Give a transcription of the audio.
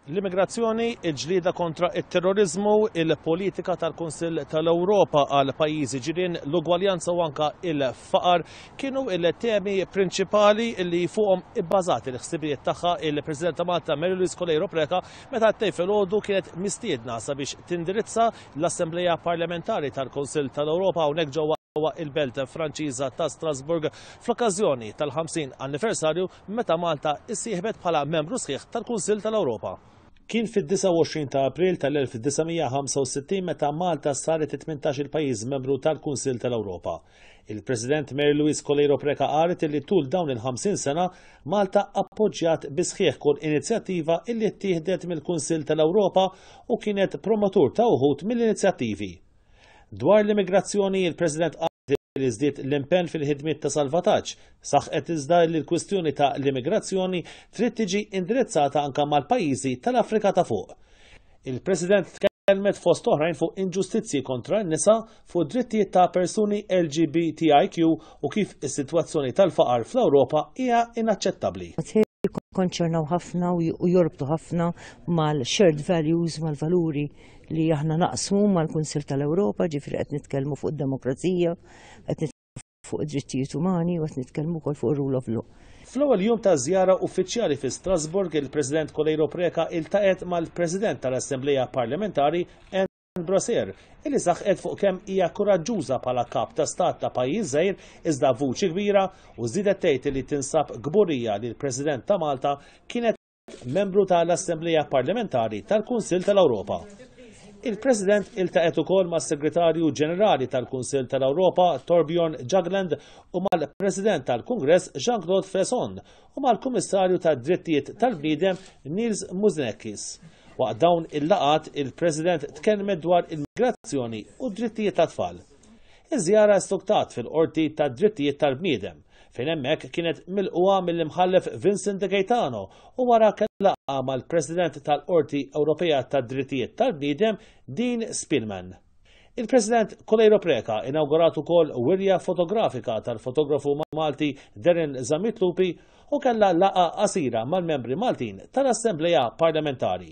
L-immigrazzjoni, il-ġlieda kontra it-terrorizmu, il-politika tal-Kunsill tal-Ewropa għal pajjiżi ġirien, l-ugwaljanza u anka il-faqar kienu il-temi prinċipali li fuqhom ibbażati l-ħsibijiet tagħha il-President ta' Malta Mary Louise Kolejro Preca meta ttej filgħodu kienet mistiedna sabiex tindirizza l-Assembleja Parlamentari tal-Kunsill tal-Ewropa hawnhekk ġewwa ġewwa il-belt Franċiża ta' Strasburg fl-okkażjoni tal-50 anniversarju meta Malta issieħbet bħala membru sħiħ tal-Kunsill tal-Ewropa. Kien fid-29 ta' April tal-1965 meta Malta saret it-18-il pajjiż membru tal-Kunsill tal-Ewropa. Il-President Mary Louise Coleiro Preca qalet li tul dawn il-50 sena Malta appoġġjat bi sħiħ kull inizjattiva illi ttieħdet mill-Kunsill tal-Ewropa u kienet promotur ta' uħud mill-inizjattivi. Dwar l-immigrazzjoni, il-President li żdied l-impenn fil-ħidmiet ta' salvataġġ, saħqet iżda li l-kwistjoni ta' l-immigrazzjoni trid tiġi indirizzata anke mal-pajjiżi tal-Afrika ta' Fuq. Il-President tkellmet fost oħrajn fuq inġustizzji kontra n-nisa, fuq id-drittijiet ta' persuni LGBTIQ u kif is-sitwazzjoni tal-faqar fl-Ewropa hija inaċċettabbli. jikkonċernaw ħafna u jorbtu ħafna mal-shared values, mal-valuri li aħna naqsmu mal-Kunsil tal-Ewropa, ġifri qed nitkellmu fuq id-demokrazija, qed nitkellmu fuq id-drittijiet umani u qed nitkellmu wkoll fuq ir-rule of law. Fl-ewwel jum ta' żjara uffiċjali fi Strasbourg, il-President Coleiro Preca iltaqgħet mal-President tal-Assembleja Parlamentari, Brashear, illi saħqet fuq kemm hija kuraġġuża bħala Kap ta' Stat ta' pajjiż żgħir iżda b'vuċi kbira u żiedet tgħid li tinsab kburija li l-President ta' Malta kienet membru ta' l-Assemblea Parlamentari tal-Kunsill ta' l-Ewropa. Il-President iltaqgħet ukoll mas-Segretarju Ġenerali tal-Kunsill ta' l-Ewropa Torbjorn Jagland u mal-President tal-Kungress Jean-Claude Fresson u mal-Kummissarju tad-Drittijiet tal-Bniedem Nils Muznekis. Waqt dawn il-laqgħat, il-President tkellmet dwar il-migrazzjoni u d-drittijiet tat-tfal. Iż-żjara stuktat fil-Qorti tad-Drittijiet tal-Bniedem, fejn hemmhekk kienet milqugħa mill-Imħallef Vincent De Gaetano u wara kellha laqgħa mal-President tal-Qorti Ewropea tad-Drittijiet tal-Bniedem Dean Spielman. Il-President Coleiro Preca inawgurat ukoll wirja fotografika tal-fotografu Malti Darren Zammit Lupi u kellha laqgħa qasira mal-membri Maltin tal-Assemblea Parlamentari.